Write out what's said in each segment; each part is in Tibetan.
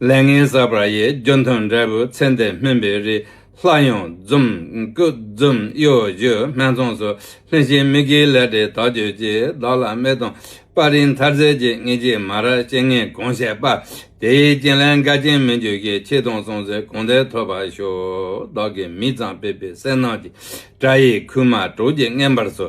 ལས་ངན་བསགས་པ་ཡི་རྒྱུ་འཐུང་འབྲས་བུ་ཚེ་འདི་སྨིན་པའི་རིགས་ལྷ་ཡོངས་འཛོམས་སྐུ་འཛོམས་གཡོ་སྒྱུ་སྨད་འཚོངས་སུ་ལྷུན་ཞིང་མི་དགེའི་ལས་འབྲས་དག་གྱུར་ཅིག་བདག་ལ་མི་སྟོང་པ་རིགས་མཐར་བརྩེ་གྱི་ངེས་ཀྱི་མ་ར་ཅན་ངས་གང་བཤད་པ་དེའི་རྐྱེན་ལས་འགལ་རྐྱེན་མི་འགྱུར་གྱི་ཆེ་མཐོང་སོང་ཚེ་གང་བདེ་ཐོབ་པར་ཤོག་བདག་གི་མི་གཙང་སྤེལ་པའི་གསལ་སྣང་གི་སྒྲ་ཡིས་ཁུག་མ་གྲོགས་ཀྱི་བརྔན་པར་སོ།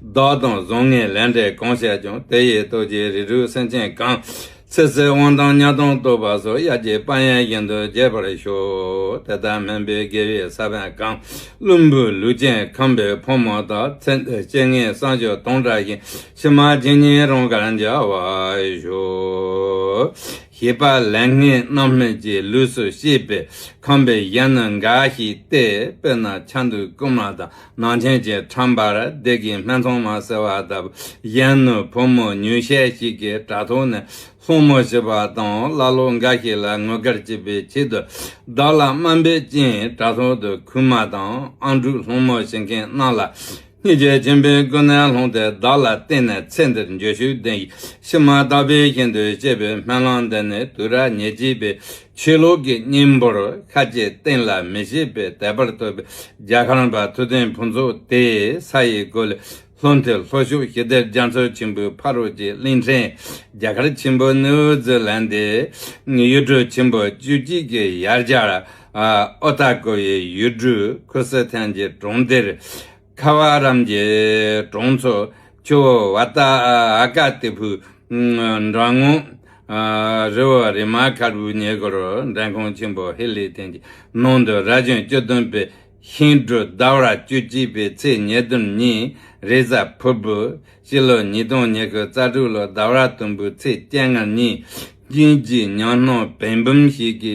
བདག་དང་བཟང་ངན་ལས་འབྲས་གང་བཤད་ཀྱང་དེ་ཡི་རྡོ་རྗེའི་རིགས་དྲུག་སེམས་ཅན་གང། ཚེ་ཚེ་དབང་དང་གཉའ་ཐང་བསྟོད་པ་སོགས་དབྱར་གྱི་དཔལ་ཡོན་བཞིན་དུ་རྒྱས་པར་ཤོག་དེ་ལྟར་སྨན་པའི་དགེ་བའི་ས་བོན་གང། བླུན་པོའི་ལུས་ཅན་ཁམས་པའི་ཕོ་མོ་དག་ཚེ་འདི་སྐྱེ་ངན་སངས་ཆོས་སྟོང་བཀྲ་ཞིང་ཕྱི་མ་རྗེས་ཉིན་རང་གར་འཇའ་བར་ཤོག། ཞེས་པ་ལན་ལྔའི་རྣམ་སྨིན་གྱི་ལུས་སུ་ཤེས་པས་ཁམས་པའི་གཞན་ནི་འགའ་ཞིག་སྟེ་དཔེར་ན་ཆ་འདུལ་རྐུན་མ་དང་ནང་ཆེན་གྱི་ཁྲམ་པར་སྡེ་དགེའི་སྨད་འཚོང་མ་ཟེར་བ་དང་གཞན་ནུས་བུ་མོ་ཉུང་ཤས་ཤིག་གིས་དྲ་ཐོག་ནས་སློང་མོ་བྱེད་པ་དང་ཀླ་ཀློ་འགའ་ཞིག་ལ་ངོ་དགར་བྱེད་པའི་ཆེད་དུ་བདག་ལ་དམའ་འབེབས་ཀྱིན་དྲ་ཐོག་ཏུ་ཁུལ་མ་དང་ཨང་དྲུག་སློང་མོ་བྱེད་མཁན་རྣམས་ལ་སྙིང་རྗེ་ཆེན་པོའི་སྐུ་སྣེ་ལྷུང་སྟེ་བདག་ལ་བརྟེན་ནས་ཚེ་འདིར་འགྱོད་ཤུགས་ལྡན་ཞིང་མ་དག་པའི་ཞིང་དུ་སྐྱེས་པའི་སྨོན་ལམ་འདི་ནི་དུས་རབས་ཉེར་གཅིག་པའི་ཆོས་ལུགས་ཀྱི་སྙིང་པོར་ཁ་བཅད་གཏན་ལ་མི་བྱེད་པའི་དད་པར་བསྟོད་པའི་རྒྱ་ཁང་པ་ཐུབ་བསྟན་ཕུན་ཚོགས་དེའི་ས་ཡི་སྒོ་ལས་ལྷོ་མཐོའི་ལྷོ་ཕྱོགས་ཞི་བདེར་རྒྱ་མཚོ་ཆེན་པོའི་ཕ་རོལ་གྱི་གླིང་ཕྲན་རྒྱ་གར་ཆེན་པོ་ནིའུ་ཛི་ལན་ཏི་ཡུལ་གྲུ་ཆེན་པོ་བཅུ་གཅིག་གི་ཡར་རྒྱར་ཨོ་ཏཱ་ཀོ་ཡི་ཡུལ་གྲུ་ཁུ་སི་ཐན་གྱི་གྲོང་སྡེར། ཁ་བ་རམ་གྱི་གྲོང་ཚོ་ཆུ་བོ་བ་ཏ་ཨ་ཀ་ཏི་ཕུ་འགྲམ་ངོགས། རི་བོ་རི་མ་ཁར་བུའི་ཉེ་སྐོར་འགྲམ་ཁོངས་ཆེན་པོ་ཧི་ལི་ཐན་གྱི་ནང་དུ་ར་ཅོན་བཅུ་བདུན་པའི་ཤིང་འབྲུ་ཟླ་བ་བཅུ་གཅིག་པའི་ཚེས་ཉེར་བདུན་ཉིན་རེས་གཟའ་ཕུར་བུ་སྤྱི་ལོ་ཉིས་སྟོང་ཉེར་དགུ་རྩ་དྲུག་ལོ་ཟླ་བ་དུམ་བུའི་ཚེས་བཅད་ལྔར་ཉིན་གཅིག་ཉིན་གཅིག་ཉང་སྣང་བན་བུམ་ཞིག་གི